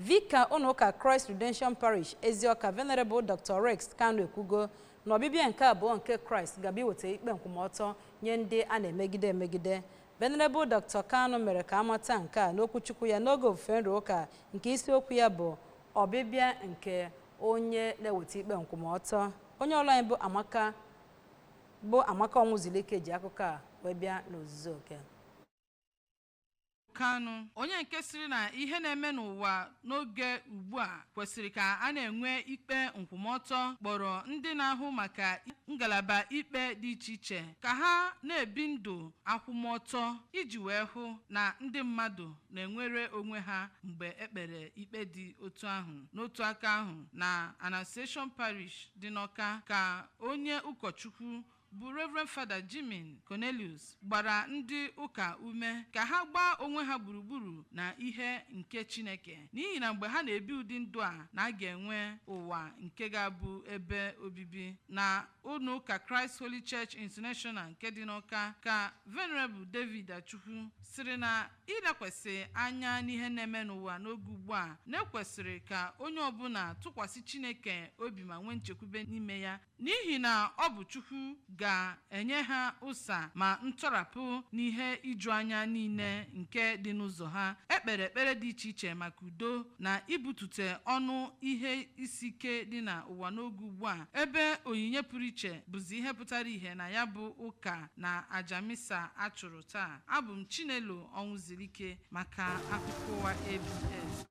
Vika ụnọụka Christ Redemption Parish Eziọka Venerable Dr. Rex Kanu ekwugo na ọbịbịa nke abụọ nke Kraịst ga-abịa iweta ikpe nkwụmọtọ nye ndị a na-emegide emegide. Venerable Dr. Kanu mere ka amata nke a n'okwuchukwu ya n'oge ofufe nru ụka nke isiokwu ya bụ ọbịbịa nke onye na-eweta ikpe nkwụmọtọ. Onye ọrụ anyị bụ Amaka Ọnwụzulike ji akụkọ a wee bịa n'ozuzu oke. Kanu onye nke sịrị na ihe na-eme n'ụwa n'oge ugbu a kwesịrị ka a na-enwe ikpe nkwụmọtọ kpọrọ ndị na-ahụ maka ngalaba ikpe dị iche iche ka ha na-ebi ndụ akwụmọtọ iji wee hụ na ndị mmadụ na-enwere onwe ha mgbe e kpere ikpe dị otu ahụ n'otu aka ahụ na Annunciation Parish dị n'Ọka ka onye ụkọchukwu bụ Rev. Fada Jimin Cornelius gbara ndị ụka ume ka ha gbaa onwe ha gburugburu na ihe nke Chineke n'ihi na mgbe ha na-ebi ụdị ndụ a na a ga-enwe ụwa nke ga-abụ ebe obibi na ụlọ ụka Christ Holy Church International nke dị n'Ọka ka Venerable David Achukwu sịrị na ilekwasị anya n'ihe na-eme n'ụwa n'oge ugbu a na e kwesịrị ka onye ọbụla tụkwasị Chineke obi ma nwee nchekwube n'ime ya N'ihi na ọ bụ Chukwu ga-enye ha ụsa ma ntọrapụ n'ihe iju anya niile nke dị n'ụzọ ha. E kpere ekpere dị iche iche maka udo na ibutute ọnụ ihe isi ike dị na ụwa n'oge ugbu a, ebe onyinye pụrụ iche bụzi ihe pụtara ihe na ya bụ ụka na aja misa a chụrụ taa. Abụ m Chinelo Ọnwụzulike maka akụkọ ụwa ABS.